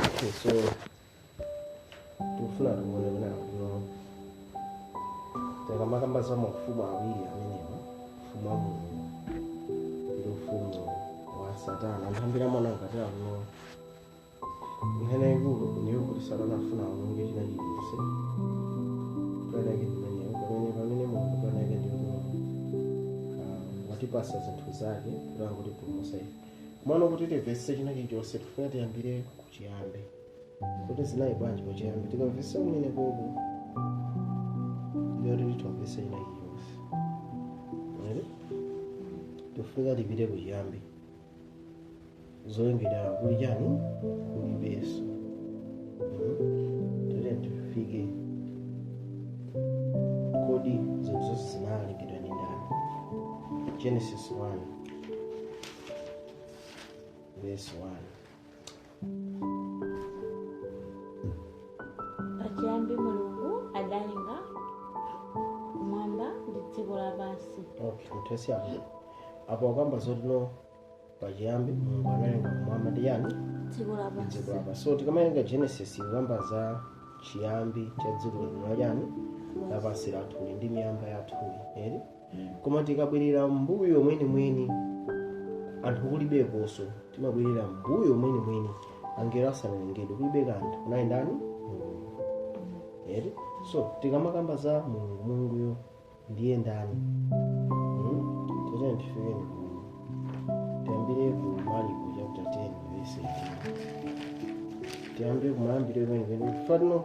Okay, so tikufuna tione kuti apano tikamakamba za maufumu awiri amenewa ufumu wa mulungu ndi ufumu wa satana nthambira mwana ngati akuno nkhani yaikulu ndiyo kuti satana afuna awononge china chilichonse panake ndimeneyo pamene pamene mulungu panake ndikuno watipasa zinthu zake kuti atipulumutse ife Komano kuti timvetse china chilichonse tifuna tiyambire kuchiyambi. Kuti zinali bwanji kuchiyambi? Tikamvetsa kumene koko ndiyo kuti timvetse china chilichonse. Mwene? Tifuna tipite kuchiyambi. Zolengedwa kuli chani? Kulibeso. Tiyeni tifike kodi zinthu zonse zinalengedwa ndi ndani? Genesis 1. Verse 1. pachiyambi mulungu adalenga kumwamba ndi dziko lapansi Okay, mutesi apo. Apo akamba zotino pachiyambi Mulungu analenga kumwamba ndi yani? dziko lapansi Dziko lapansi. So tikamawerenga Genesis ikamba za chiyambi cha dziko lino la chani? Lapansi lathuli ndi miyamba yathu. Eti? koma tikabwerera mbuyo mwenimweni anthu kulibekonso timabwerera mbuyo mwenimweni angelo asanalengedwe kulibe kanthu kunali ndani mulungu eti so tikamakamba za mulungu mulunguyo ndiye ndani Hmm? tiyeni tifike tiyambire ku maliko chapter 10 verse 18 tiyambire kumayambiro kwenekweni kufatino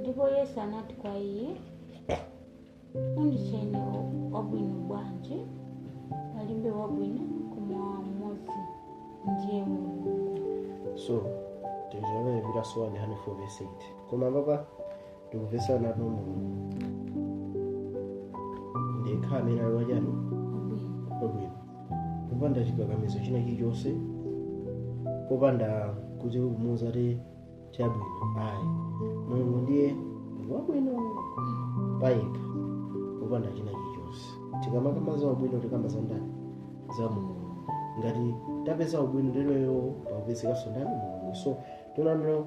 ndipo yesu anati kwa iye unditcheranji wabwino bwanji palibe wabwino koma mmodzi ndiye mulungu so tizvona zviri asowani 148 koma papa tikupeza apo mulungu ndekha amene ali wachani wabwino popanda chikakamizo china chilichonse popanda kuti kumuuza kuti chabwino ayi mulungu ndiye wabwino payekha popanda china chilichonse tikamakamba za ubwino tikamba za ndani za mulungu ngati tapeza ubwino ndiye kuti pakupezekanso ndani mulungu so tonaniro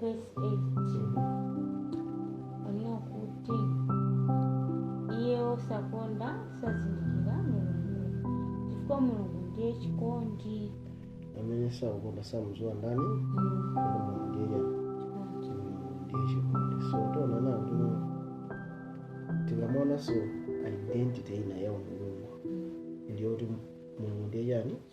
vesi 8 onena kuti iye osakonda sazindikira mulungu chifukwa mulungu ndiye chikondi amene sakukonda samdziwa ndani mulungu ndiye chikondi ndiye chikondi so tiona kuti tikamaonanso identity ina ya mulungu ndiyo kuti mulungu ndiye chani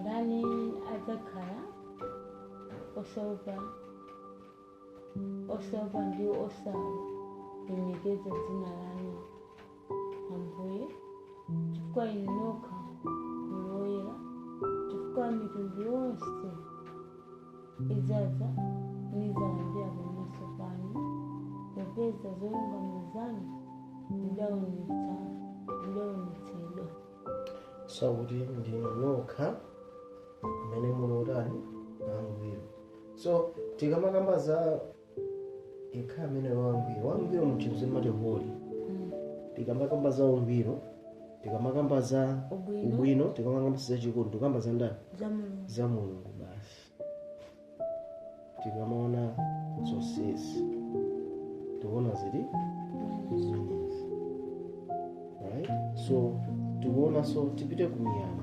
ndani adzakhala osaopa osaopa ndi osalemekeza dzina lanu ambuye chifukwa inu nokha muli woyera chifukwa mitundu yonse idzadza nidzalambira pamaso panu popeza zolungama zanu zidaonetsa zidaonetsedwa so akuti ndinu nokha amene muli otani wangwiro so tikamakamba za yekha amene wangwiro wangwiro muchizungu amati holy tikamakamba za ungwiro tikamakamba za ubwino tikamakamba za chikondi tikamba za ndani za mulungu basi tikamaona zonsezi tikuona zili zimenezi right so tikuonanso tipite ku miyambo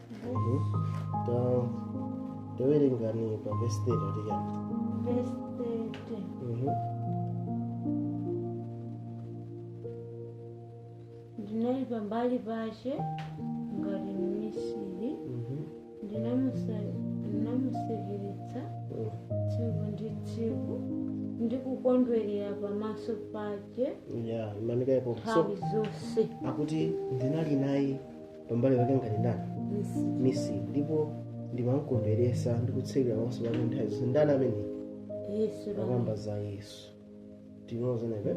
tawerengani pa vesi 30 akuti chani Verse 30. ndinali pambali pace ngati mmisiri ndinamusekeretsa tsiku ndi tsiku ndi kukondwerera pamaso pace nthawi zonse akuti ndinali naye pambali pake ngati ndani mmisiri ndipo ndimamkondweretsa ndi kusekera pamaso pake nthawi zonse ndani amene yesu akamba za yesu tikudziwa kuti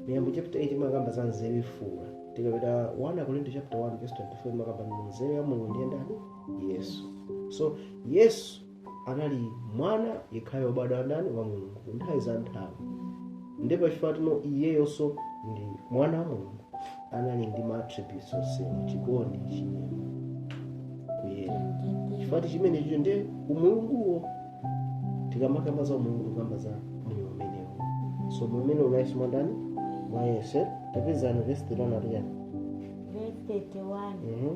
miyambo chapter 8 imakamba za nzeru komano tikapita 1 akorinto chapter 1 verse 24 imakamba kuti nzeru ya mulungu ndiye ndani yesu so yesu anali mwana yekhayo obadwa wa ndani wa mulungu nthawi za nthawi ndi pachifukwa choti iyeyonso ndi mwana wa mulungu anali ndi maattributes onsewa chikondi chinyengo kuyera chifukwa chimene chicho ndiye umulunguwo tikamakamba za umulungu tikukamba za moyo umenewo so moyo umene unali mwa ndani mwa yesu tapezani vesi tilona tiyani Verse 31. Mhm.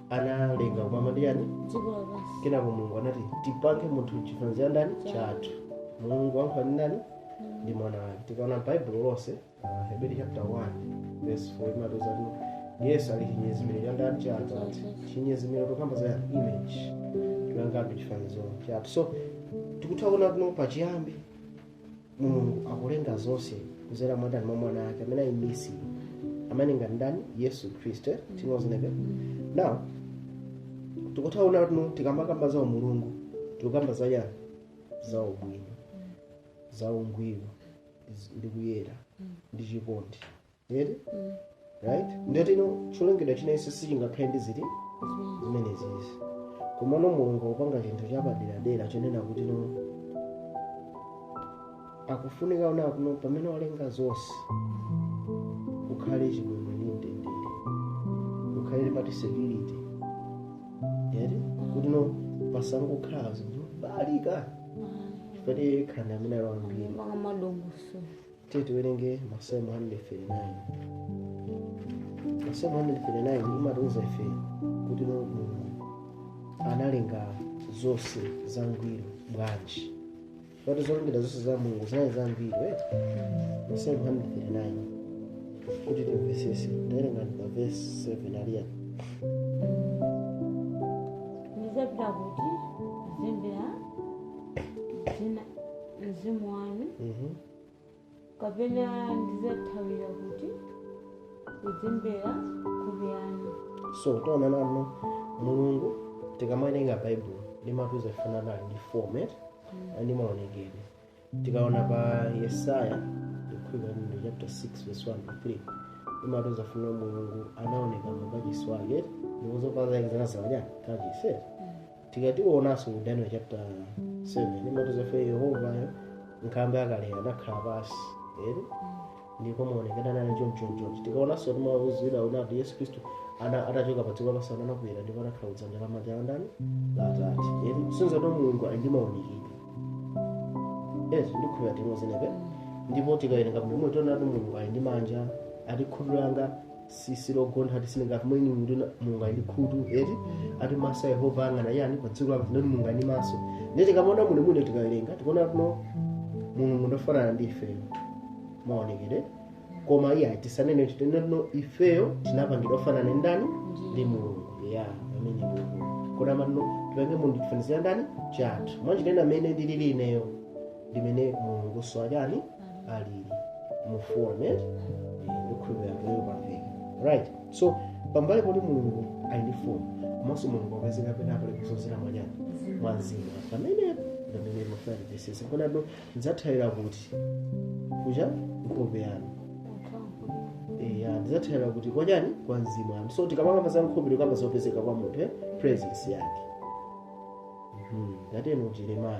analenga kumwamba ndi yani dziko lapansi kenako mulungu anati tipange munthu chifaniziro cha ndani chathu mulungu walankhula ndi ndani ndi mwana wake tikaona baibulo lonse ah, heberi chapter 1 verse 4 imatiuza kuti yesu ali chinyezimiro cha ndani cha atate chinyezimiro tikukamba za yani? image tipangapo chifaniziro chathu so tikutha kuona kuno pachiyambi mulungu akulenga zonse kuzera mwa ndani mwa mwana wake amene ali mmisiri amene ngati ndani yesu khristu tinozineke now tikutha kuona kuno tikamakamba za umulungu tikukamba za yani za ubwino za ungwiro ndi kuyera ndi chikondi eti right ndiye kuti no cholengedwa china chonse sichingakhale ndi zinthu zimenezizi komano mulungu akupanga chinthu chapaderadera chonena kuti no akufunika ona kuno pamene walenga zonse kukhale chimwemwe ndi mtendere kukhale mmati security eti kuti no pasangokhala zinthu balika chifukwa tiye khanda amene alawambiri Maka madongoso. Tiye tiwerenge Masalmo 139. Masalmo 139 imatiuza ife kuti no Mulungu analenga zonse zangwiro bwanji. Poti zolengedwa zonse za Mulungu zinali zangwiro eti. Masalmo 139 kuti timvetsetse. Tawerenga pa verse 7 Eliya. ndidzapita kuti kudzembera dzina mzimu wanu Mhm. kapena ndidzathawira kuti kudzembera nkhope yanu so taonani no mulungu tikamawerenga baibulo limatiuza kuti no ali ndi format ndi maonekedwe tikaona pa yesaya ndikukhulupirira kuti ndi chapter 6 verse 1 to 3 limatiuza kuti mulungu anaoneka mu kachisi wake ndipo zovala zake zinadzaza m'kachisi tikati tiwonenso ku daniel chapter 7 imatiuza ife yehovayo nkhalamba yakale anakhala pansi eti ndipo maonekedwe anali chonchonchonchi tikaonanso imatiuza ife kunena kuti yesu khristu atachoka padziko lapansi anakwera ndipo anakhala kudzanja lamanja la ndani la atate eti kusonyeza kuti mulungu ali ndi maonekedwe yes ndikukhulupirira timozinebe ndipo tikawerenga bwino tiona kuti mulungu ali ndi manja ati khutu langa si logontha ati zisonyeza kuti mulungu ali ndi khutu eti ati maso a yehova ayang'ana yani pa dziko lapansi ndiye kuti mulungu ali ndi maso ndiye tikamaona muno muno tikawerenga tikuona kuti no mulungu ndi ofanana ndi ifeyo maonekedwe koma iyayi tisanene kuti tinene kuti no ifeyo tinapangidwa ofanana ndi ndani ndi mulungu ya amene mulungu kodi amati no tipange munthu chifaniziro ndani chathu mwanjira ina mmene ndilili ineyo ndimene mulungu so achani ali mu fomu eh? ndikhulupirira kuti pamveka right so pambali poti mulungu ali ndi fomu komanso mulungu akupezeka pena paliponse kudzera mwa chani mwa mzimu pamene pamene Davide akutino ndidzathawira kuti kuchani nkhope yanu eya ndidzathawira kuti kwachani kwa mzimu wanu so tikamakamba za nkhope tikukamba zopezeka kwa munthu eh? presence yake Mhm, ndatero Yeremiya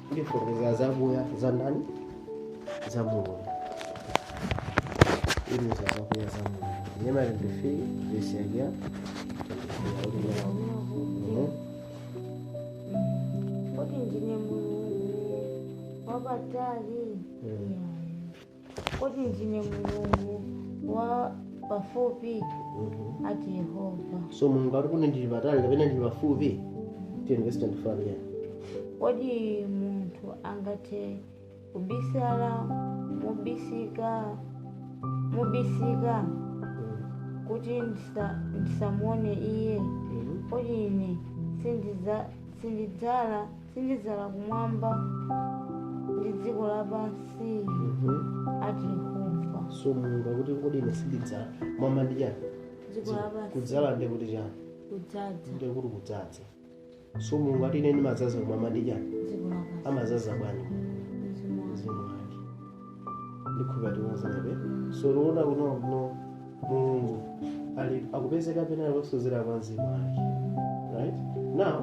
Ndifunguza za kuya za ndani za Mungu. Ili za kuya za Mungu. Nyama ya ndifi bishagia. Kodi ndine Mulungu wapatali. Mm. Kodi ndine Mulungu wa pafupi? Ati Yehova. so mulungu ati kodi ndili patali kapena ndili pafupi tiye verse 25 yeah. Kodi munthu angathe kubisala mobisika kuti ndisa- ndisamuone iye? Kodi ine sindiza- sindidzala sindidzala kumwamba ndi dziko lapansi ati yehova so mulungu akuti kodi ine sindidzala mwamba ndi chani dziko lapansi kudzala nde kuti chani kudzaza nde kuti kudzaza so mulungu ati ine ndimadzaza kumwamba ndi chani dziko lapansi amazaza bwanji mzimu wake ndikhulupirira timadziwabe so tikuona kuno kuno mulungu ali akupezeka pena paliponse kudzera kwa mzimu wake right now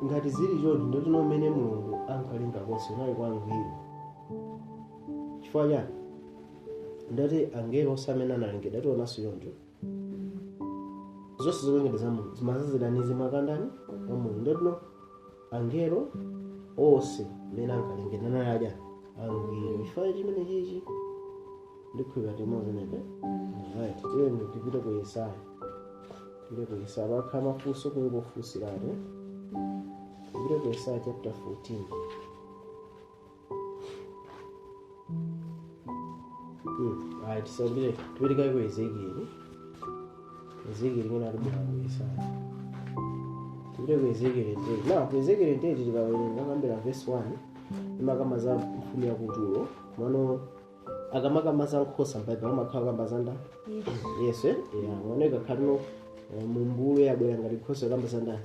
ngati zili choti ndotino mmene mulungu ankalenga onse anali kwa angwiro chifukwa chani ndiye kuti angelo onse amene analengedwa tionanso choncho zonse zolengedwa za mulungu zimadzazidwa ndi mzimu wa ndani wa mulungu ndotino angelo onse amene ankalengedwa anali aja angwiro chifukwa chimenechichi ndikhulupirira timadziwabe right tiyeni tipite ku yesaya tipite ku yesaya pakakhala mafunso kungofunsiratu tipite ku yesaya chapter 14 right tiyambire tipite kaye ku ezekieli ezekieli mwina tibwera ku yesaya tipite ku ezekieli 28 now ku ezekieli 28 tikawerenga kuyambira vesi 1 imakamba za mfumu ya ku turo mano akamakamba za nkhosa mbaibulo amakhala akukamba za ndani yesu eh? yeah. mano ikakhala kutino mmbulu wabwera ngati nkhosa akukamba za ndani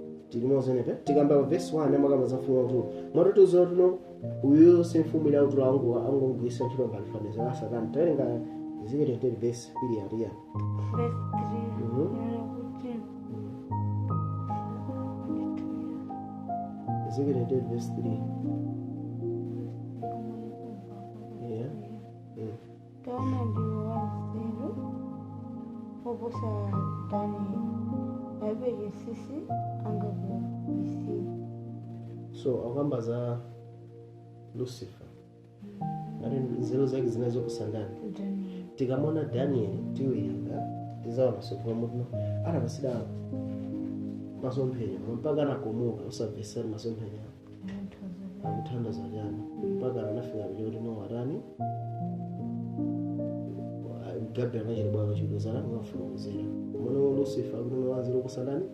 tili mozenepe tikamba pa vesi 1 amakamba za mfumu yautulu mwatoti uziwa tuno uyu si mfumu ina utulu angu angongwisa ntchito ngati fanizo la satana tawerenga ziketenteni vesi ili yatiya Verse 3. Mhm. Neno kuti ziketenteni vesi 3 Yeah. Taona ndiwe wanzeru woposa Danieli, palibe chinsinsi angakubisire. so akukamba za lucifer ati nzeru zake zinali zoposa ndani Danieli. tikamuona daniel tiwerenga tizaona zakuti pamene anapasidwa masomphenya mpaka anakomoka osamvesesa masomphenya akuthandaza chani mpaka anafika kuja kuti no atani gabi anachita bwaka chikuzana ngafuna kuzera mwana wa lucifer akuti mwanjira kusanani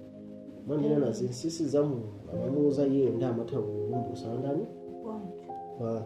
mwanjira ina zinsisi za mulungu amamuuza iye ndiye amatha kukumbusana ndani kwa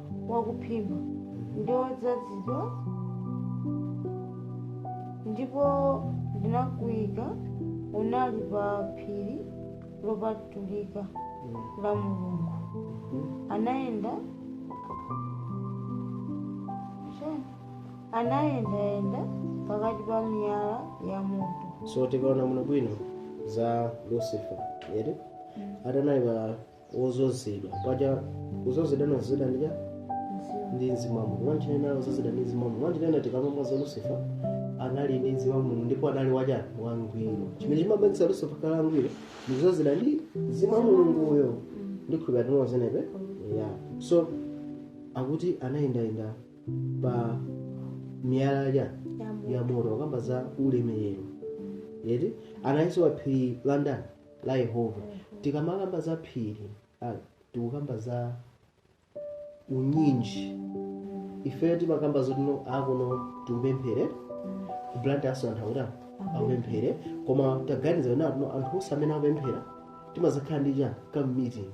wakuphimba ndi wodzozedwa ndipo ndinakuika unali pa phiri lopatulika la mulungu anayenda Chani? anayendayenda pakati pa miyala ya moto so tikaona muno bwino za lucifer eti ati anali pa wodzozedwa paja kudzozedwa anadzozedwa ndija ndi mzimu wa mulungu mwanjira ina wodzozedwa ndi mzimu wa mulungu mwanjira ina tikamamva za lusifa anali ndi mzimu wa mulungu ndipo anali wachani wangwiro chimene chimapangitsa lusifa kukhala wangwiro ndi kudzozedwa ndi mzimu wa mulungu uyo ndikhulupirira tili tonse pamenepo ya so akuti anayendayenda pa miyala ya ya moto akamba za ulemerero eti analinso pa phiri la ndani la yehova tikamakamba za phiri ah, tikukamba za unyinji ifeyo timakamba zoti no akuno tikapemphere ku Blantyre enanso anthu akuti akapemphere koma taganiza kuti akuno anthu onse amene akupemphera timadzakhala ndi chani ka meeting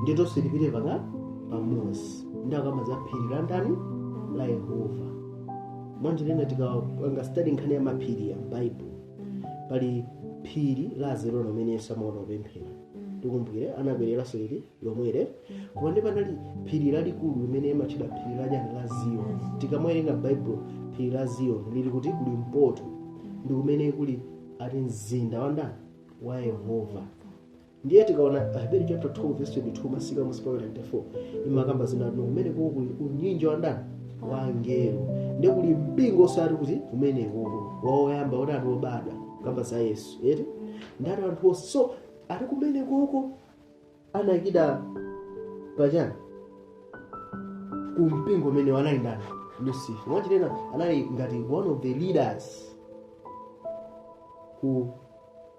ndi tonse tipite paka pamodzi ndiye akamba za phiri la ndani la yehova mwanjira ina tikapanga study nkhani ya maphiri ya bible pali phiri la azitona limene yesu amakonda kupemphera tikumbukire anakwereranso phiri lomwelo koma ndiye panali phiri lalikulu limene limatchedwa phiri la chani la ziyoni tikamawerenga baibulo phiri la ziyoni lili kuti kuli mpoto ndi kumene kuli ati mzinda wa ndani wa yehova ndiye tikaona aheberi chapter 12 verse 22 mpaka mmusi pa 24 imakamba zoti ati kumene kuko kuli unyinji wa ndani wa angelo ndiye kuli mpingo osati kuti kumene kuko woyamba ati wobadwa akukamba za yesu eti ndi ati anthu onse so ati kumene kuko anayikida pachani ku mpingo umene anali ndani lucifer mwanjira ina anali ngati one of the leaders ku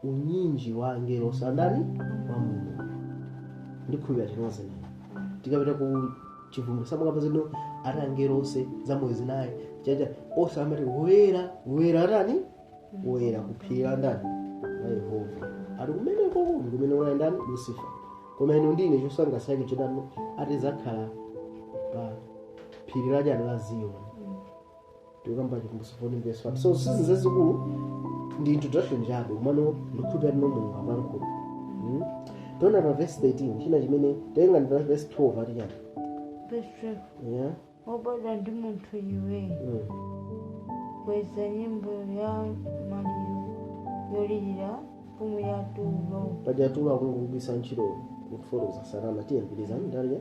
unyinji wa angelo ake a ndani wa mulungu ndikhulupirira tili tonse ndiye tikapita ku chivumbulutso amakamba zoti ati angelo onse zamoyo zinayi chacha onse amati woyera woyera atani woyera kuphiri la ndani la yehova ati kumene koko ndikumene kunali ndani lusifa koma inu ndiye chosangalatsa chake chotani ati adzakhala pa phiri lachani la ziyoni tikukamba chivumbulutso 14 verse 1 so sizi zazikulu ndi introduction chabe kumano ndikhulupira tino mulungu akulankhula Mm. tiona pa verse 13 china chimene titenga ndi pa verse 12 ati chani 12, yeah wobadwa ndi munthu iwe, mm. kweza nyimbo ya maliro yolirira mfumu ya tulo. paja tulo akumugwiritsa ntchito kufotokoza satana tiyembekezani ndalya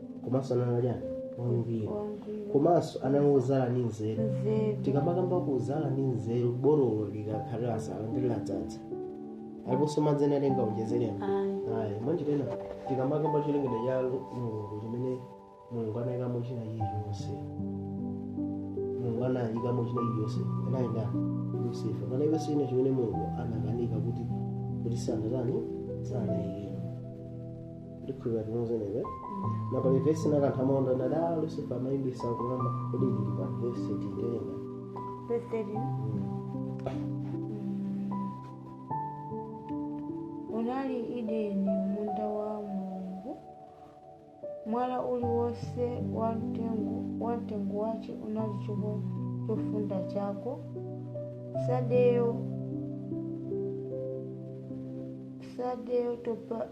komanso anali chani wangwiro wangwiro komanso anali wodzala ndi nzeru nzeru tikamakamba kudzala ndi nzeru borolo likakhala lasala ndi ladzadza alipobe madzi ena angaonjezeremo ayi ayi mwanjira ina tikamakamba cholengedwa cha mulungu chimene mulungu anayikamo china chilichonse mulungu anayikamo china chilichonse anali lusifa panalibe china chimene mulungu anakanika kuti kuti sanatani sanayikemo ndikhulupira tili limodzibe na pali vesi yokamba monga anali lusifa amayimbisa kumwamba kodi ili pa vesi titenga Verse 13. unali m'edeni munda wa mulungu mwala uliwonse wa mtengo wa mtengo wace unali choko chofunda chako sadeyo sadeyo topazi,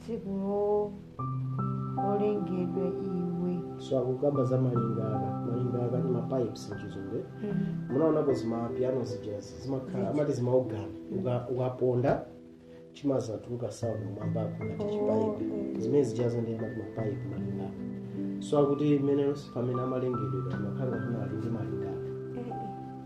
tsiku lo- lolengedwa iwe so akukamba za malingaka malingaka ndi mapipes mchizungu munaonapo zimapiano zija zimakhala amati zimaogana Uka- ukaponda chimadzatuluka sound m'mwambako ngati chipaipi zimene zijazo ndi amati mapaipi malingaka so akuti imene pamene amalengedwa amakhala ngati anali ndi malinga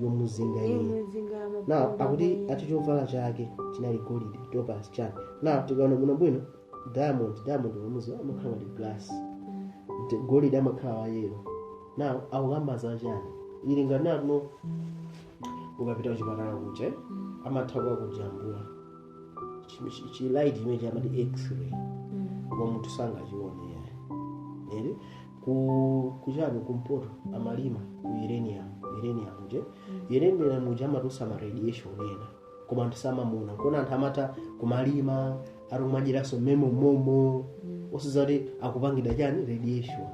yomuzinga iye yomuzinga na maphungu akuti amene- ati chovala chake chinali golide topazi chani na tikaona bwinobwino diamond diamond wambiri amakhala ndi glass Ndi golide amakhala wa yellow na akukamba za chani ili ngati matano ukapita kuchipatala kuja eh, amatha kukujambula Chi- chi- chi light imene amati x-ray Mm. koma munthu sangachione yayi eti ku kuchani kumpoto amalima uranium uranium nje uranium nje amatusa ma radiation ena koma anthu samaona kuona anthu amatha kumalima ali kumajiraso memo momo osadziwa kuti akupangidwa chani radiation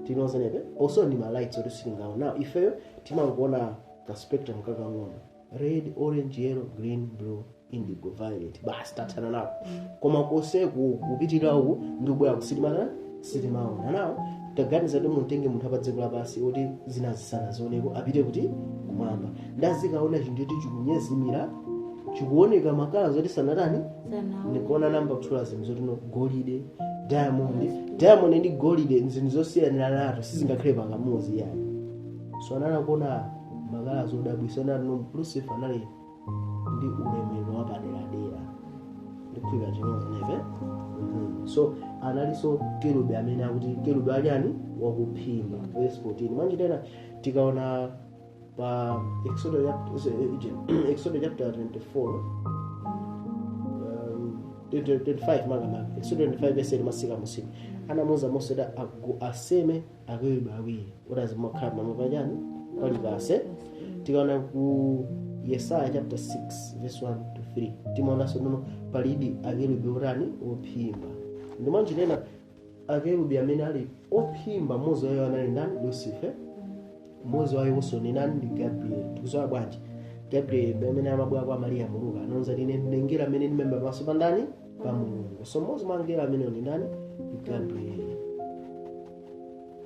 tili limodzibe so pali ma lights oti sitingaone ifeyo timangoona ka spectrum kakang'ono red orange yellow green blue indigo violet basi tathana nawo koma konseku kupitirira uku ndi kubwera uku sitima sitimaona nde taganizani kuti mutenge munthu wapa dziko lapansi woti zinazi sanazioneko apite kuti kumwamba nde azikaona chinthu choti chikunyezimira chikuoneka makala zoti sanatani sanazione ayamba kutchula zinthu zotino golide diamond diamond ndi golide ndi zinthu zosiyaniranatu sizingakhale pamodzi yayi so anali kuona makala zodabwisa nanu lucifer anali ndi ulemerero wapaderadera ndikuphika chimodzi neve Mhm. so analinso kerubi amene akuti kerubi wachani wakuphimba verse 14 mwanjira ina tikaona pa exodo chapter- exodo chapter 24 um, 25 makamaka exodo 25 verse masika musika anamuuza mose kuti agu- aseme akerubi awiri kuti azikhala pamwamba pachani pa likasa tikaona ku yesaya chapter 6 verse 1 to 3 timaonanso nono palidi akerubi otani ophimba ndi mwanjira ina akerubi amene ali ophimba mmodzi wa iwo anali ndani lucifer mmodzi wa iwonso ndi ndani ndi gabriel tikuziwa bwanji gabriel amene amabwera kwa mariya mulungu anamuuza kuti ine ndine mngelo amene ndimaima pamaso pa ndani pa mulungu so mmodzi mwa angelo amenewo ndi ndani gabrieli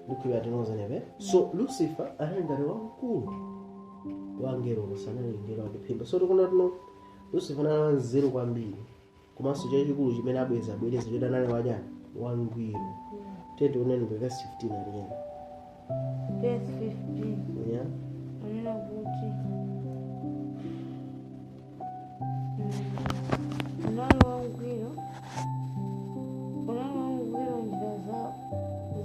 ndikhulupira tinozanebe so lucifer anali ngati wamkulu wa angelo onse anali mngelo wakuphimba so tikuona kuti no lucifer anali wanzeru kwambiri komanso chachikulu chimene abweza abwereza choti anali wachani wangwiro tiyeni tioneni kwa verse 15 aliyena Verse 15. yeah? Anena kuti unali wangwiro unali wangwiro m'njira za-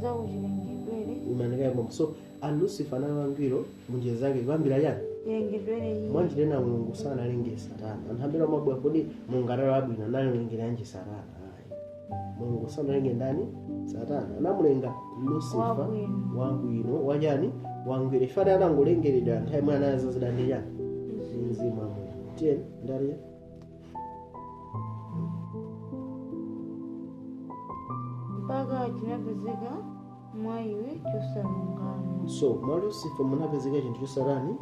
zako chilengedwere imani kaye momo so a lucifer anali wangwiro munjira zake kuyambira chani chilengedwere iye mwanjira ina mulungu sanalenge satana anthu ambiri amabwera kodi mulungu anali wabwino analengeranji satana Ayi. mulungu sanalenge ndani satana anamulenga lusifa Wabwino. wabwino wachani wangwiro in fact anangolengeredwa nthawi imene anazazidwa ndi chani mzimu wa mulungu tiyeni ndaliya mpaka chinapezeka mwa iwe chosalungama so mwa lusifa munapezeka chinthu chosatani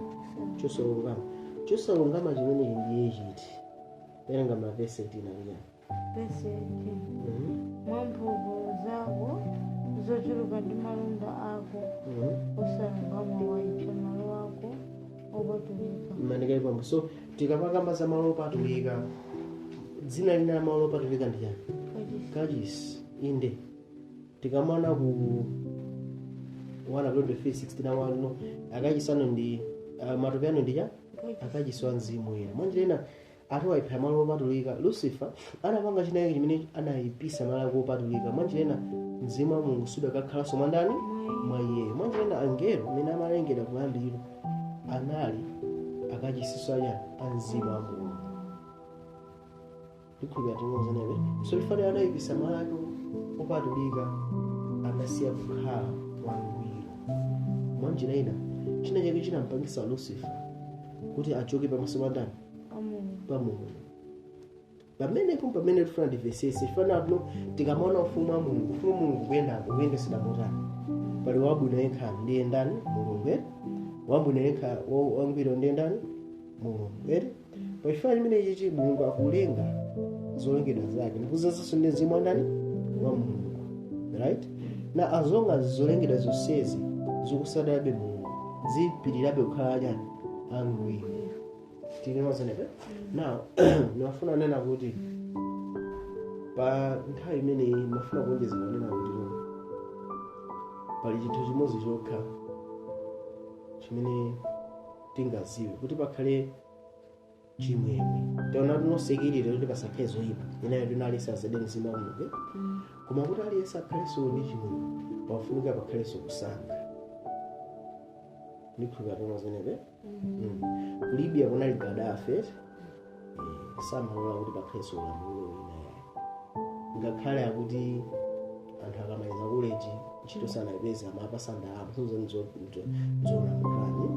chosalungama chosalungama chimenechi ndiye chiti werengani verse 18 liyani verse 18 mwa mphulupulu zako zochuluka ndi malonda ako osalungama waipsa malo ako opatulika imani kaye pompo so tikamakamba za malo opatulika dzina lina la malo opatulika ndi chani kachisi kachisi inde tikamaona ku 123 na wano akachisano ndi ah, matupi anu ndi chani kachisi akachisi wa mzimu woyera mwanjira ina ati waipsa malo opatulika lucifer anapanga chinayake chimene anayipisa malo ake opatulika mwanjira ina mzimu wa mulungu sudakakhalanso mwa ndani mwa iyeyo mwanjira ina angelo amene amalengedwa kuyambiriro anali akachisinso a chani a mzimu wa mulungu ndikhulupirira tinozanebe so chifukwa anayipisa malo ake opatulika anasiya kukhala wangwiro mwanjira ina china chake chinampangisa lucifer kuti achoke pamaso pa ndani pa mulungu pamenepo pamene tifuna timvetsetse tifana kuno tikamaona ufumu wa mulungu ufumu wa mulungu kuyendako kuyendesera motani pali wabwino yekha ndiye ndani mulungu ere wabwino yekha wa- wangwiro ndiye ndani mulungu ere pachifukwa chimene ichi mulungu akulenga zolengedwa zake ndikudzazanso ndi mzimu wa ndani wa mulungu right now as long as zolengedwa zonsezi zikutsatirabe mulungu zipitirirabe kukhala chani angwiro tinemazenepe now ndimafuna kunena kuti pa nthawi imeneyi ndimafuna kuonjeza kunena kuti pali chinthu chimodzi chokha chimene tingadziwe kuti pakhale chimwemwe taona tinosekerera kuti pasakhale zoyipa ndi yoti aliyense adzazidwe mzimu wa mulungu koma kuti aliyense akhalenso ndi chimwemwe pafunika pakhalenso kusankha ndikhulupirira tomazenepe Mm. ku libya kunali gaddafi eti Eh, samalola kuti pakhalenso ulamuliro wina yayi ngakhale akuti anthu akamaliza koleji ntchito sanayipeza amawapatsa ndalama zonamukrani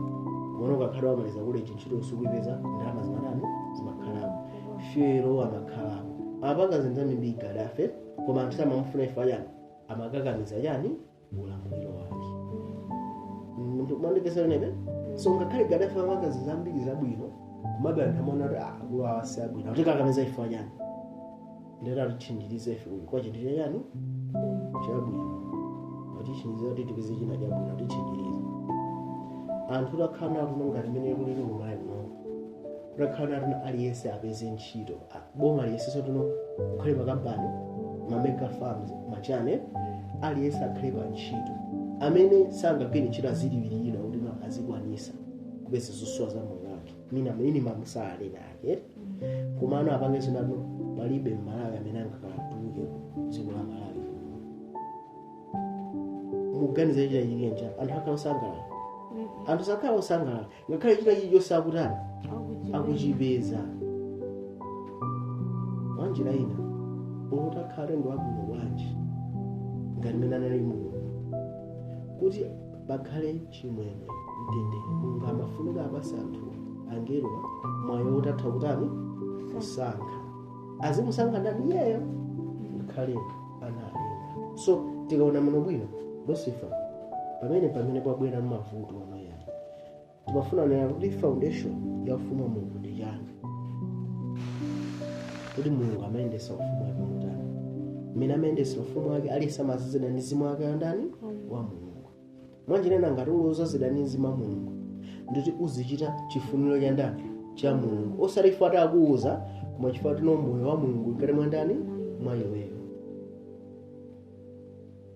mona ukakhala wamaliza koleji ntchito sukuyipeza ndalama zimatani zimakhalapo fuel amakhalapo amapanga zinthu zambiri gaddafi koma anthu samamufuna chifukwa chani amakakamiza chani ulamuliro wake mwandipeza pamenepo so ngakhale gaddafi amapanga zambiri zabwino komabe anthu amaona kuti ah, akulu awa si abwino akutikakamiza chifukwa chani ndiye atitchinjiriza ife uyu kwa chinthu chachani chabwino atitchinjiriza kuti tipeze china chabwino atitchinjiriza anthu takhala nawo ngati mmene kulili kumalawi kuno takhala nawo aliyense apeze ntchito ah, boma liyesetse kuno kukhale makampani mamega farms machani aliyense akhale pa ntchito amene sangagwire ntchito azilipiridwa kuti ma- azikwanisa kupeza zosowa za moyo wake mina minimum salary yake koma ano apange zinatu palibe mmalawi amene angakatuluke dziko la malawi muganiza chitachitika anthu akhala osangalala anthu sakhala osangalala ngakhale china chilichonse akutani akuchipeza mwanjira ina utakhala ndi wabwino bwanji ngati mmene anali mulungu kuti pakhale chimwemwe mtendere mulungu amafunika apatse anthu angelo mwayi woti atha kutani kusankha azimusankha ndani iyeyo ngakhale analenga so tikaona muno bwino lucifer pamene pamene pabwera mavuto amayamba timafuna nena kuti foundation ya ufumu wa mulungu ndi chani kuti mulungu amayendesa ufumu wake motani mmene amayendesa ufumu wake aliyense amadzazidwa ndi mzimu wake wa ndani wa mulungu mwanjira ina ngati uli odzazidwa ndi mzimu wa mulungu ndiye kuti uzichita chifuniro cha ndani cha mulungu osati chifukwa akuuza koma chifukwa uli ndi moyo wa mulungu mkati mwa ndani mwa iweyo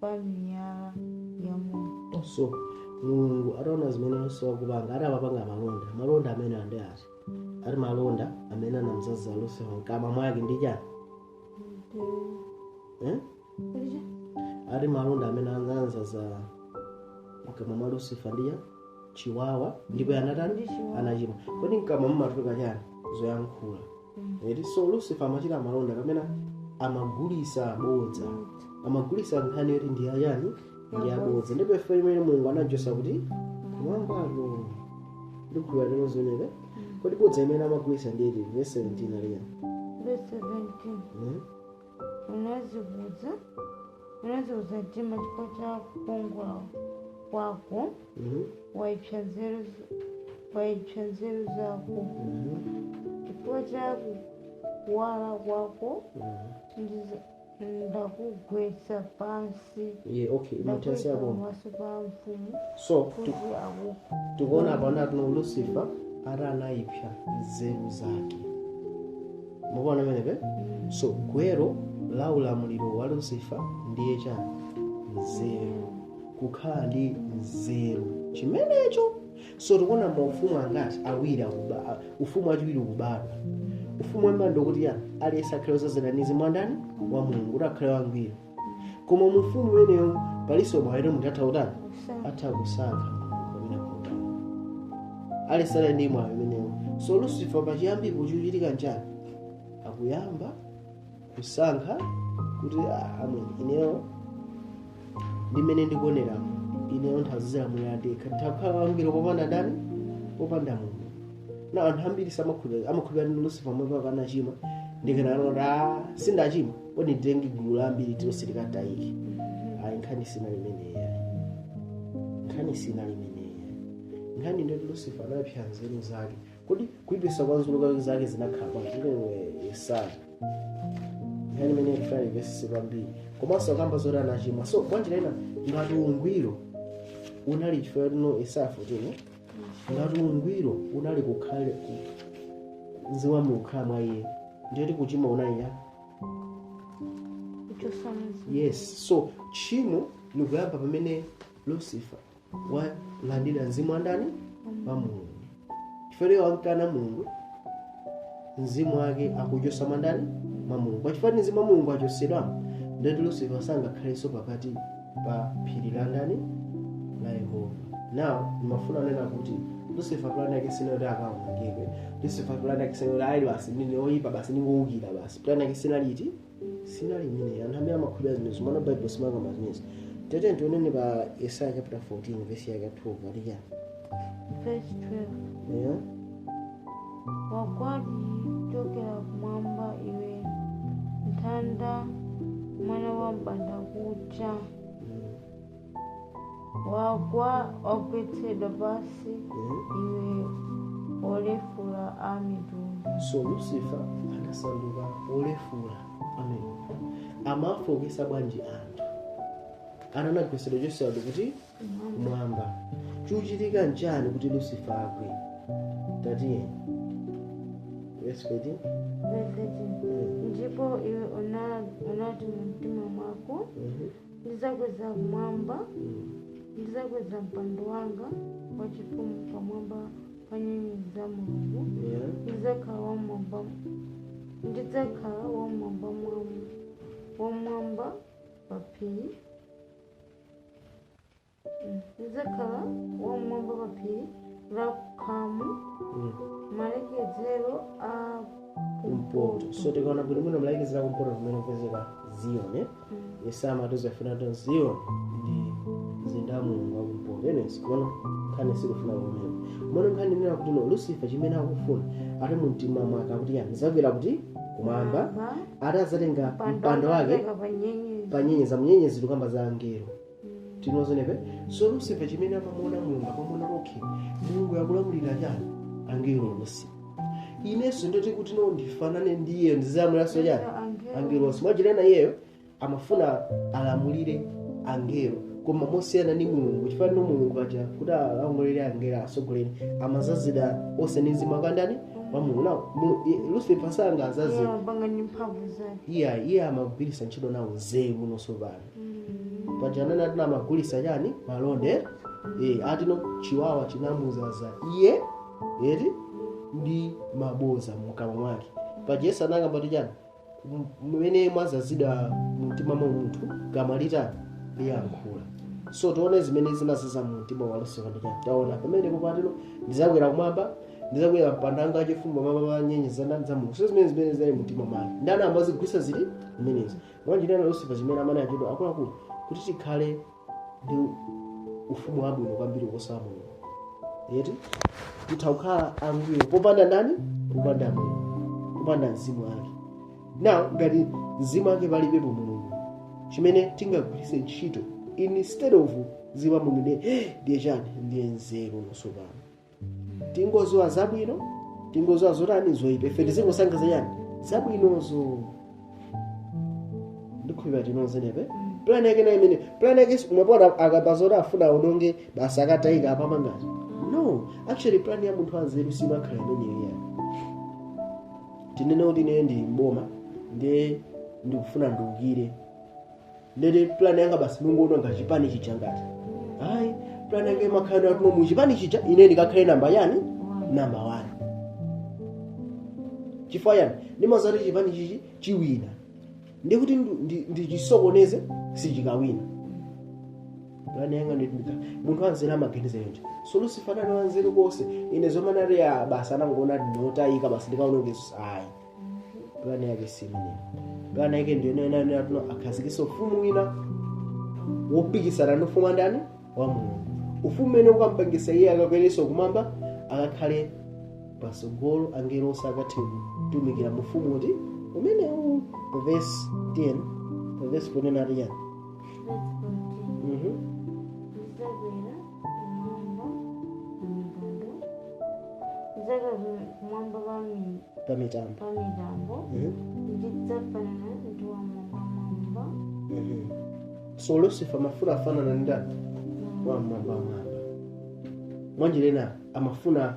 pa miyala ya moto so mulungu ataona zimene lucifer akupanga ati amapanga malonda malonda amenewa ndi ati ati malonda amene anamdzaza lucifer mkama mwake ndi chani eh? Ndija? ati malonda amene anamdzaza mkamwa mwa lucifer ndi chani chiwawa ndipo anatani Ndi chiwawa. anachimwa kodi mkamwa mumatuluka chani zoyankhula eti so lucifer amachita malonda kapena amagulisa bodza amagulisa nkhani zoti ndi zachani ndi zabodza ndipo mfundo imene mulungu anajosa kuti mwambalo ndikhuwa lero tizione kodi bodza imene amagulisa ndi iti verse 17 aliya Verse 17. Mhm. unadzikuza unadzikuza mtima chifukwa cha kukongola kwako Mhm. waipsa nzeru z- waipsa nzeru zako Mhm. chifukwa cha kuwala kwako Mhm. ndiza- ndakugwetsa pansi yeah, okay ndakuika pamaso pa mafumu so tu- kuti akupenye tikuona pano ati lucifer ati anayipsa nzeru zake mukuona mmenemo so gwero la ulamuliro wa lucifer ndiye chani nzeru kukhala ndi nzeru chimenecho so tikuona maufumu angati awiri akuba ufumu wachiwiri ukubadwa ufumu woyamba ndi woti aliyense akhale odzazidwa ndi mzimu wa ndani wa mulungu kuti akhale wangwiro koma mu ufumu umenewu palinso mwayi woti munthu atha kutani atha kusankha pamene kutani aliyense ali ndi mwayi umenewu so lucifer pachiyambi chikuchitika nchani akuyamba kusankha kuti "Ah, ayi ineyo ndimene ndikuoneramo ineyo nditha kuziimira ndekha nditha kukhala wangwiro popanda ndani popanda mulungu na anthu ambiri samakhulupirira amakhulupirira ndi lucifer yemwe pakanachimwa ndikananota sindachimwa kodi nditenge gulu la ambiri tonse tikatayike ayi nkhani sinali imeneyo nkhani sinali imeneyo nkhani ndi yoti lusifa anaipsa nzeru zake kodi kuipsa kwa nzeru zake zinakhala bwanji iwe yesaya nkhani imene ikufuna ivesese kwambiri komanso akamba zoti anachimwa so mwanjira ina ngati ungwiro unali chifukwa timu yesaya 14 ngati ungwiro unali kukhale ku- mzimu wa mulungu kukhala mwa iye ndiyoti kuchimwa unali ya kuchotsa mzimu yes so tchimo likuyamba pamene lucifer walandira mzimu wa ndani wa mulungu chifukwa iye wakukana mulungu mzimu wake akuuchotsa mwa ndani mwa mulungu pachifukwa choti mzimu wa mulungu wachotsedwa ndiye kuti lucifer sangakhalenso pakati pa phiri la ndani la yehova now ndimafuna kunena kuti lucifer plan yake sinali kuti akawonongedwe lucifer plan yake sinali kuti ayi basi ndine oyipa basi ndingowukira basi plan yake sinali iti sinali imeneyi anthu amene amakhulupirira zimenezo koma baibulo silimakamba zimenezo tatiyeni tione pa yesaya chapter 14 vesi yake 12 aliyani Verse 12. Yeah. Wagwadi kuchokera kumwamba iwe nthanda mwana wa mbanda kucha wagwa wagwetsedwa pansi Yeah. iwe olefula a mitundu so lucifer anasanduka wolefula amitundu amafooketsa bwanji anthu ana anagwetsedwa kuchokera kuti kumwamba chikuchitika nchani kuti lusifa agwe tatiyeni verse 13 Verse 13. ndipo iwe una- unati mu mtima mwako Mhm. ndizakweza kumwamba Mm. ndizakweza mpando wanga wachifumu pamwamba pa nyenyezi za mulungu Yeah. ndidzakhala wamwamba ndidzakhala wamwamba mwamba wamwamba pa phiri ndidzakhala wam'mwamba pa phiri la khamu Mm. malekezero a kumpoto so tikaona bwino bwino malekezero a kumpoto kumene kupezeka ziyoni yesaya amatiuza kuti ziyoni ndi mzinda wa mulungu wa kumpoto anyways koma nkhani sikufuna kumeneko koma nkhani ikunena kuti no lucifer chimene akufuna ati mu mtima mwake akuti chani ndizakwera kuti kumwamba Kumwamba. ati adzatenga mpando wake pa nyenyezi nyenyezi tikukamba za angelo tinozonepe so lusifa chimene amamuona mulungu amamuona okay mulungu akulamulira chani angelo onse inenso ndoti kuti no ndifanane ndi iyeyo ndizalamulanso chani angelo onse mwanjira ina iyeyo amafuna alamulire angelo koma mosiyana ndi mulungu chifukwa no mulungu aja kuti alamulire angelo atsogolere amawadzaza onse ndi mzimu wa ndani wa mulungu now lucifer sangazazidwe iyayi iye amagwiritsa ntchito nawo nzeru no sopano paja anena ati no amagulisa chani malonda eh, ati no chiwawa chinamuzaza iye eti ndi maboza mkamwa mwake paja yesu anakamba kuti chani mmene mwazazidwa mumtima mwa munthu kamwa litani liyankhula so tione zimene zinazaza mumtima wa lucifer ndi chani taona pamene popatino ndizakwera kumwamba ndizakwera mpando wanga wachifumu mmwamba mwa nyenyezi za ndani za mulungu so zimene zimene zili mumtima mwake ndani amazigwisa zili zimenezi mwanjira ina lucifer zimene amene achidwa akuluakulu kuti tikhale ndi ufumu wabwino kwambiri kuposa wa mulungu eti titha kukhala angwiro popanda ndani popanda mulungu popanda mzimu wake now ngati mzimu wake palibepo mulungu chimene tingagwiritse ntchito instead of mzimu wa mulungu ndiye ndiye chani ndiye nzeru tsopano tingoziwa zabwino tingoziwa zotani zoyipa ife tizingosankha zachani zabwinozo ndikhulupira tinozenepe plan yake nayo imene plan yake si- umapota akamba zoti afuna aononge basi akatayika apamangazo no actually plan ya munthu wanzeru simakhala imeneyo iyayi tinene kuti ine ndi mboma ndiye ndikufuna ndiukire ndiye plan yanga basi nkungoononga chipani chija ngati ayi plan yanga imakhala kuti no mu chipani chija ine ndikakhale namba chani namba 1 chifukwa chani ndimaziwa kuti chipani ichi chiwina ndikuti ndu- ndi- ndichisokoneze sichikawina plan yanga nditindika munthu wanzeru amaganiza chonchi so lucifer ndi wanzeru konse ine zomanati ya basi anangoona ndine otayika basi ndikaonongeso ayi pulani yake si imene pulani yake ndiyonena kuti no akhazikise ufumu wina wopikisana ndi ufumu wa ndani wa mulungu ufumu umene ukampangisa iye akakwereso kumwamba akakhale pasogolo angelo onse akathe kutumikira mu ufumu uti umenewu pavesi 10 pavesi 14 ati chani pamitambo so lucifer amafuna afanane ndi ndani wammwambamwamba mwanjira ina amafuna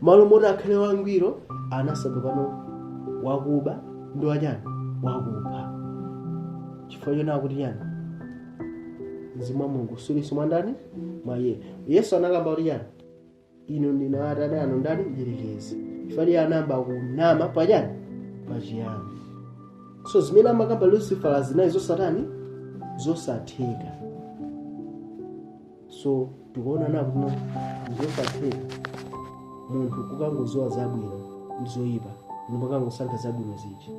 malo moti akhale wangwiro anasanduka no wakuba ndi wachani wakupha chifukwa chonena kuti chani mzimu wa mulungu sulinso mwa ndani mwa iye yesu anakamba kuti chani inu ndinu atate anu ndani mdyerekezi chifukwa iye anayamba kunama pachani pachiyambi so zimene amakamba lucifer zinali zosatani zosatheka so tikuona napono zosatheka munthu kukangoziwa zabwino ndi zoyipa ndi kukangosankha zabwino zija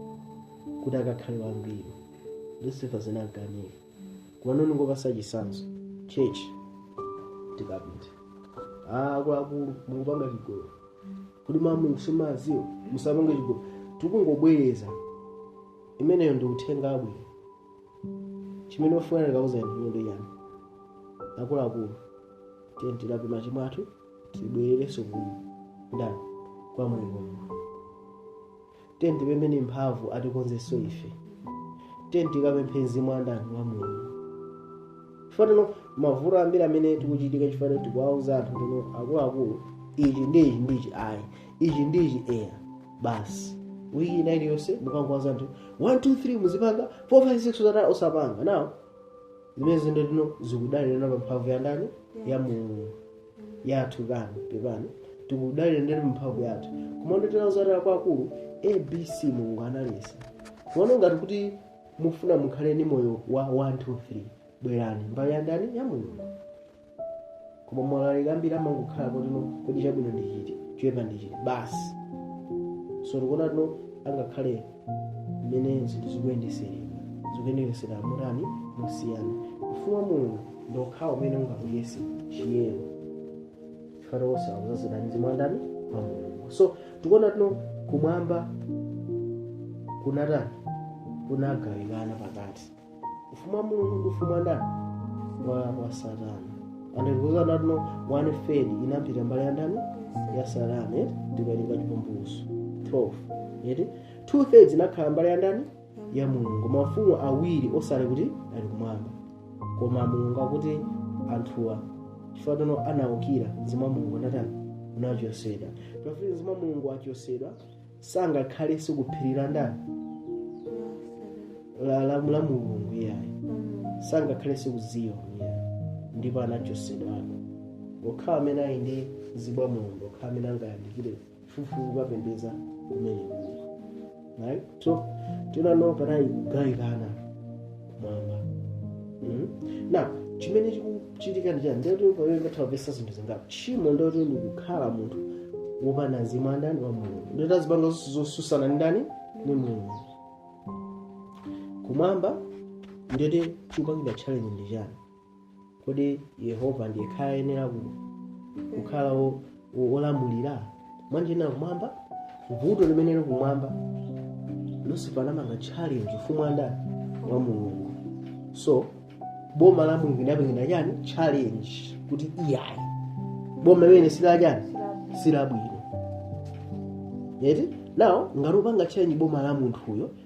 kuti akakhale wangwiro lucifer zinamkanika kumano ndingopasa chisanzo church tikapita ah akuluakulu mukupanga chigolo kuti mulungu simumuziwa musapange chigolo tikungobwereza imeneyo ndi uthenga wabwino chimene tofunika tikauza anthu ndi chani akuluakulu tiyeni tilape machimo athu tibwererenso ku ndani kwa mulungu mulungu tiyeni tipempheni mphamvu atikonzenso ife tiyeni tikapemphe mzimu wa ndani wa mulungu chifukwa tino mavuto ambiri amene tikuchitika chifukwa tino tikuwauza anthu tino akuluakulu ichi ndi ichi ndi ichi ayi ichi ndi ichi eya basi wiki ina iliyonse mukangowauza anthu 1 2 3 muzipanga 4 5 6 usataye osapanga now zimene zino tino zikudalira pa mphamvu ya ndani ya mulungu yathu kani pepani tikudalira ndani mphamvu yathu koma ndotera uzatala kwa akulu abc mulungu analetsa kuona ngati kuti mufuna mukhale ndi moyo wa 1 2 3 bwerani mbali ya ndani ya mulungu koma alaliki ambiri amangokhala kuti no kodi chabwino ndi chiti choyipa ndi chiti basi so tikuona tino angakhale mmene zinthu zikuyendetsereka zikuyendetsera motani mosiyana ufumu wa mulungu ndi wokhawo umene ungakwanitse chiyero chifukwa onse akuzazidwa ndi mzimu wa ndani wa mulungu so tikuona tino kumwamba kunatani kunagawikana pakati ufumu wa mulungu ndi ufumu wa ndani wa, wa satana akutiuza anati no one third inapita mbali ya ndani ya satana eti ndikulinga chivumbulutso 12 eti two thirds inakhala mbali ya ndani ya mulungu mafumu awiri osati kuti ali kumwamba koma mulungu akuti anthuwa chifukwa tino anaukira mzimu wa mulungu anatani anachosedwa pafupi ndi mzimu wa mulungu achosedwa sangakhalenso kuphiri la ndani la la la mulungu iyayi sangakhalenso ku zioni iyayi ndipo anachosedwako okhawa amene ali ndi mzimu wa mulungu okhawa amene angayandikire kufupi kukapembeza kumene kuli right so tinano panali kugawikana mwamba Mhm. now chimene chikuchitika ndi chani ndiyoti pamene tatha kupeza zinthu zingapo tchimo ndiyoti ndikukhala munthu wopanda mzimu wa ndani wa mulungu ndiyoti azipanga zonse zosusana ndi ndani ndi mulungu kumwamba ndiyoti chikupangidwa challenge ndi chani kodi yehova ndiye akhala ayenera ku- kukhala wo- wo- wolamulira mwanjina kumwamba vuto limene lili kumwamba lucifer anapanga challenge ufumu wa ndani wa mulungu so boma la mulungu linapangidwa chani challenge kuti iyayi boma limene silachani silabwino eti now ngati ukupanga challenge boma la munthuyo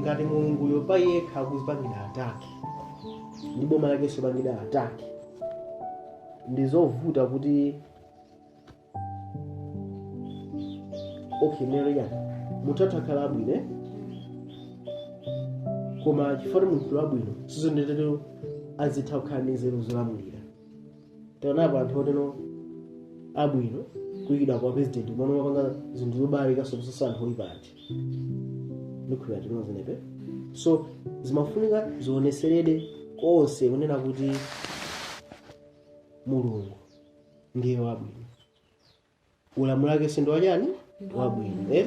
ngati mulunguyo pa yekha akuzipangidwa attack ndi boma lakenso pangidwa attack ndi zovuta kuti okay nereya munthu atha kukhala wabwino eh? koma chifukwa kuti munthu wabwino si ndiye tero azitha kukhala ndi nzeru zolamulira taonapo anthu otero abwino kuyikidwa kwa president koma amapanga zinthu zobalalikanso kuposa anthu oyipa eti ndikhulupira tinazionapo so zimafunika zioneseredwe konse kunena kuti mulungu ndiye wabwino ulamuliro wake nawonso ndi wachani wabwino eh?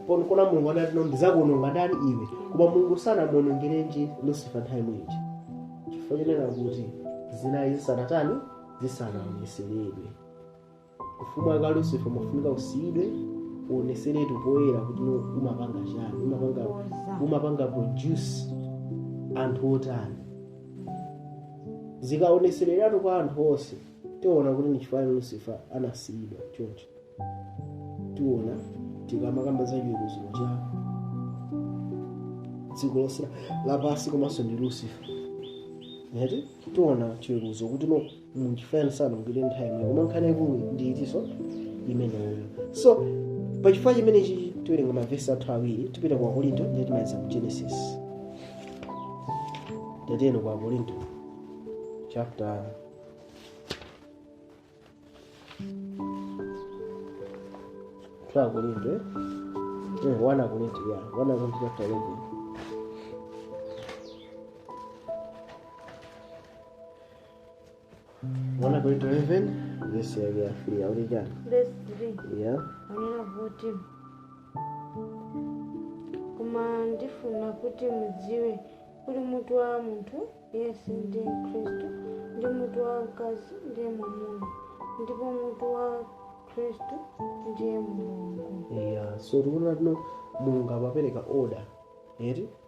Pon- kuona mulungu adati no ndizakuononga ndani iwe koma mulungu sanamuonongerenji lucifer nthawi imene ija chifukwa chonena kuti zinayi zisanatani zisanaoneseredwe ufumu wake lucifer umafunika usiyidwe uoneseredwe poyera kuti no umapanga chani umapanga umapanga produce anthu otani zikaonesereratu kwa anthu onse tiona kuti ni chifukwa lucifer anasiyidwa choncho tiona tikamakamba za chiweruzo cha dziko lonse lapansi komanso ndi lucifer eti tiona chiweruzo kuti no n'chifukwa chiyani sanamugwire nthawi yomweyo koma nkhani yaikulu ndi eti so imeneyo so pachifukwa chimenechi tiwerenga mavesi athu awiri tipita ku akorinto ndiye timaliza ku genesis tatiyeni ku akorinto chapter 1 akorinto eh? eh, 1 akorinto ya 1 akorinto chapter 11 Thank 1 akorinto 11, verse yake ya 3. How did that? Verse 3. Yeah. Amanena kuti koma ndifuna kuti mudziwe kuti mutu wa munthu yense ndiye khristu ndi mutu wa mkazi ndiye mwamuna ndipo mutu wa khristu ndiye mulungu Yeah. So tikuona kuti no mulungu amapereka order eti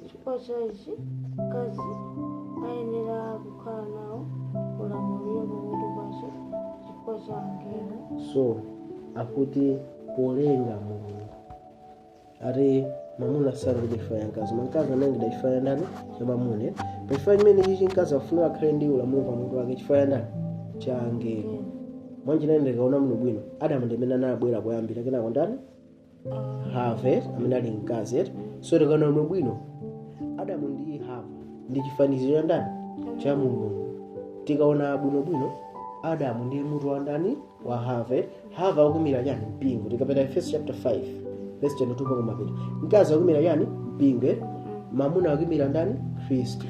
Chifukwa cha ichi, mkazi ayenera kukhala nawo ulamuliro pamutu pace chifukwa cha angelo. so akuti polenga mulungu ati mamuna sanalengedwe chifukwa cha mkazi mkazi analengedwa chifukwa cha ndani cha mamuna pachifukwa chimene chichi mkazi afunika akhale ndi ulamuliro pamutu wake chifukwa cha ndani cha angelo mwanjira ina ndikaona muno bwino adamu ndimene anabwera poyambira kenako ndani hava amene ali mkazi eti so tikaona bwinobwino adamu ndi hava ndi chifaniziro cha ndani cha mulungu tikaona bwinobwino adamu ndi mutu wa ndani wa hava hava akuimira chani mpingo tikapita efeso chapter 5 verse 22 mpaka mapeto mkazi akuimira chani mpingo eh? mamuna akuimira ndani khristu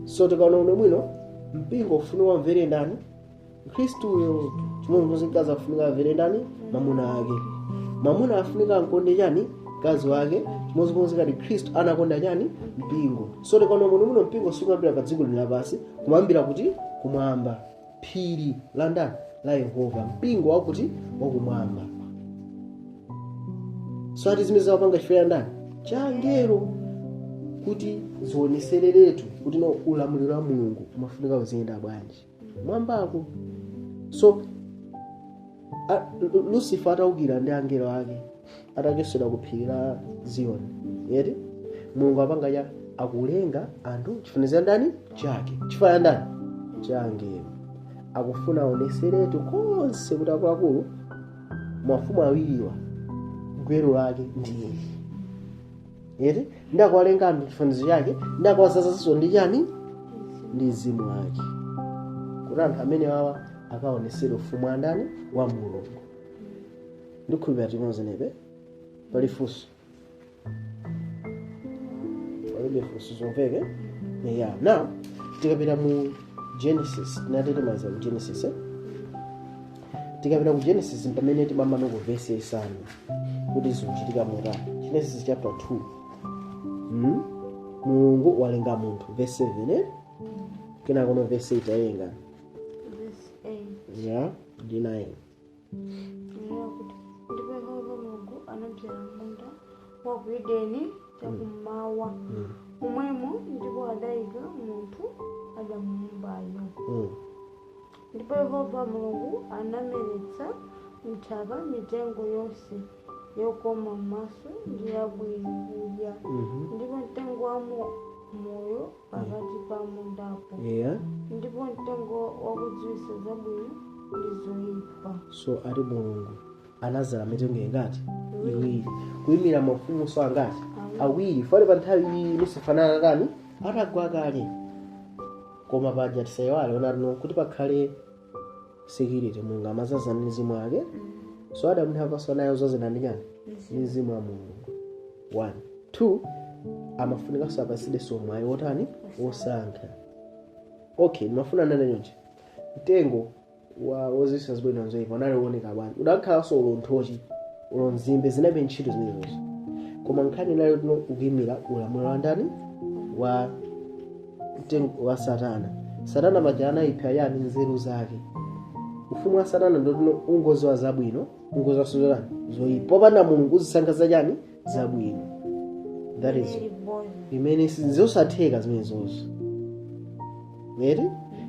so tikaona bwinobwino mpingo ufunika umvere ndani khristu uyo chimodzimodzi mkazi afunika amvere ndani mamuna ake mamuna afunika akonde chani mkazi wake chimodzimodzi ngati khristu anakonda chani mpingo so tikaona bwinobwino mpingo sukuyambira pa dziko lino lapansi umayambira kuti kumwamba phiri la ndani la yehova mpingo wakuti wakumwamba so ati zimene zawapanga chifukwa cha ndani cha angelo kuti zionesereretu kuti no ulamuliro wa mulungu umafunika uziyenda bwanji kumwambako so a- Lu- lucifer ataukira ndi angelo ake atachotsedwa ku phiri la ziyoni yeti mulungu apanga cha akulenga anthu chifanizo cha ndani chake chifukwa cha ndani cha angelo akufuna aoneseretu konse kuti akuluakulu mafumu awiriwa gwero lake ndi iye eti ndakuwalenga anthu chifanizo chake ndakuwadzazaso ndi chani ndi mzimu wake kuti anthu amene wawa akaonesere ufumu wa ndani wa mulungu ndikhulupira tinamva zimenezi pali funso palibe funso zamveka ya now tikapita mu genesis tinatete maza mu genesis eh? tikapita ku genesis mpamene timamano ku vesi yaisanu kuti zikuchitika motani genesis chapter 2 mm? mulungu walenga munthu vesi 7 eh? kenakono vesi 8 tawerenga Verse 8. ya ndi 9 Kunena kuti ndipo yehova mulungu anadzala munda wa ku edeni chakummawa momwemo ndipo adayika munthu adamuumbayo mm. Ndipo Yehova Mulungu anameretsa m'nthaka mitengo yonse yokoma m'maso ndi yabwino kudya, Mhm. ndipo mtengo wa mo- moyo pakati pa mundapo, Yeah. ndipo mtengo wakudziwitsa zabwino ndi zoyipa. so ati mulungu anazala mitengo ingati iwiri kuyimira mafumunso angati awiri pamene pa nthawi iyi lusifa anakhala atagwa kale koma paja tisayiwale onani kuti pakhale security mulungu amazaza ndi mzimu wake so adamu ndi hava nawonso odzazidwa ndi chani ndi mzimu wa mulungu one two amafunikanso apatsidwenso mwayi wotani wosankha okay ndimafuna ndinene chonchi mtengo wa woziwitsa zabwino n'zoipa unali uoneka bwanji udakhalanso uli nthochi uli nzimbe zilibe ntchito zimenezo koma nkhani inali yoti unkaimira ulamuliro wa ndani wa mtengo wa satana satana paja anayipha chani nzeru zake ufumu wa satana ndi woti ungoziwa zabwino ungoziwa so chani zoyipa popanda mulungu uzisankha zachani zabwino that is Very boring. imene si- zosatheka zimenezozo eti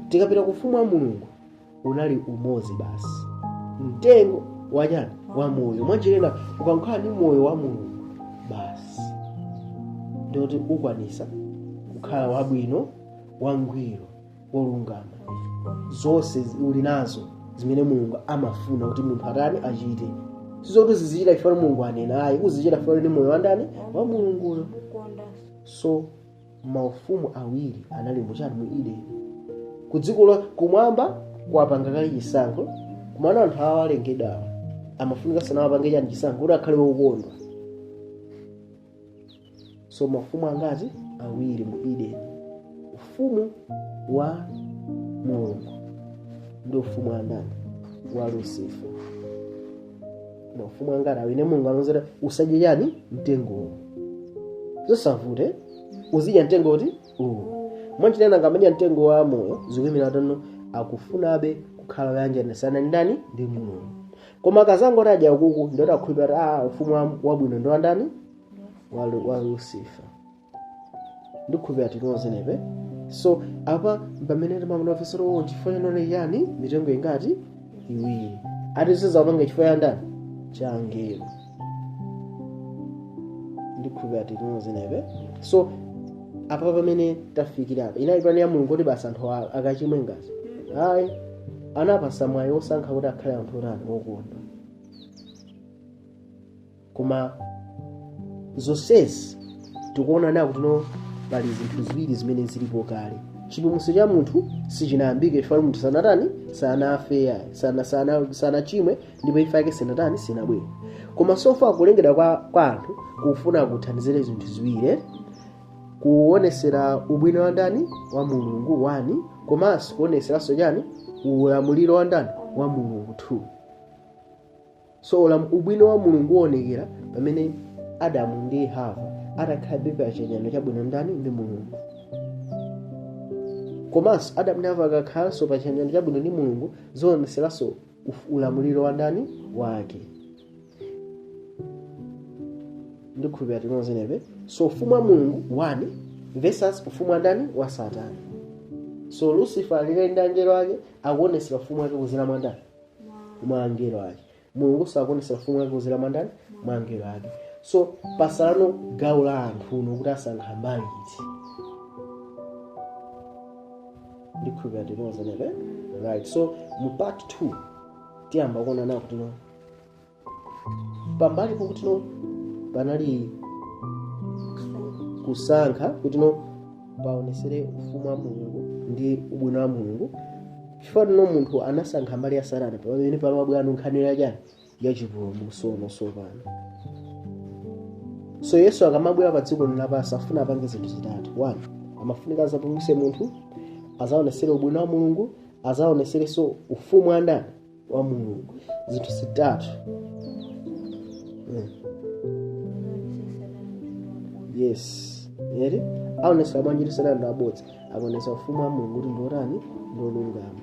tikapita ku ufumu wa mulungu unali umodzi basi mtengo wachani wa moyo mwanjira ina ukakhala ndi moyo wa mulungu basi ndikuti ukwanisa kukhala wabwino wangwiro wolungama zonse zi- uli nazo zimene mulungu amafuna kuti munthu atani achite sizoti uzichita chifukwa mulungu wanena ayi uzichita chifukwa ndi moyo wandani wa mulunguyo kukondanso so maufumu awiri anali muchani mu edeni ku dziko la kumwamba anapanga kale chisankho komano anthu awo alengedwawo amafunikanso nawo apange chani chisankho kuti akhale wokonda so mafumu angati awiri mu edeni ufumu wa mulungu ndi ufumu wa ndani wa lusifa mafumu angati awiri mulungu anauza usadye chani mtengo uwu zosavute uzidya mtengo uti uwu mwanjira ina ngati amadya mtengo wa moyo zikuimira kuti akufunabe kukhala woyanjana ndi ndani ndi mulungu koma akazangoti adya ukuku ndiye kuti akhulupirira kuti a ufumu wa- wabwino ndi wandani wa, Lu- wa lucifer ndikukhulupirira tili nonsebe so apa pamene timaona fesero uwo chifukwa chake chani mitengo ingati iwiri ati sanapange chifukwa cha ndani cha angelo ndikukhulupirira tili nonsebe so apa pamene tafikira apa inali pulani ya mulungu kuti basi anthu a- akachimwe ngati ayi anawapasa mwayi osankha kuti akhale anthu otani okonda koma zonsezi tikuona now kuti no pali zinthu ziwiri zimene zilipo kale chipulumutso cha munthu sichinayambike chifukwa munthu sanatani sanafe sana, sana, sanachimwe ndipo imfa yake sinatani sinabwere koma so far kulengedwa kwa, kwa anthu kufuna kuthandizira zinthu ziwiri kuonesera ubwino wa ndani wa mulungu one komanso kuoneseranso chani ulamuliro wa ndani wa mulungu 2 so ubwino wa mulungu uonekera pamene adamu ndi hava atakhalabe pa chiyanjano chabwino ndani ndi mulungu komanso adamu ndi hava akakhalanso pa chiyanjano chabwino ndi mulungu zionetseranso uf- ulamuliro wa ndani wake ndikhulupira tili pa same page so ufumu wa mulungu one versus ufumu wa ndani wa satana so lucifer ali kale ndi angelo ake akuonetsera ufumu wake kuzera mwa ndani mwa angelo ake mulungu akuonesa ufumu wake kuzera mwa ndani mwa angelo ake so patsala no gawo la anthu no kuti asankha mbali iti ndikhulupira tili pa same page right so mu part 2 tiyamba kuona now kuti no pambali pokuti no panali kusankha kuti no paonesere ufumu wa mulungu ndi ubwino wa mulungu chifukwa no munthu anasankha mbali ya satana pamene pano pabwera no nkhani ya chani ya chipulumutso tsopano so yesu akamabwera pa dziko lino lapansi afuna apange zinthu zitatu one amafunika azapulumutse munthu azaonesere ubwino wa mulungu azaoneserenso ufumu wa ndani wa mulungu zinthu zitatu Mm. yes ee aonesa bwanji kuti satana ndi wabodza akonesa ufumu wa mulungu kuti ndi wotani ndi wolungama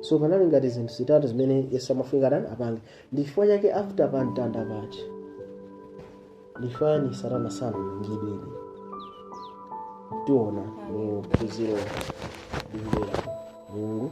so panali ngati zinthu zitatu zimene yesu amafunika tani apange ndi chifukwa chake after pa mtanda paja nchifukwa chani satana sanalangidwe tiona mu phunziro likubwera mulungu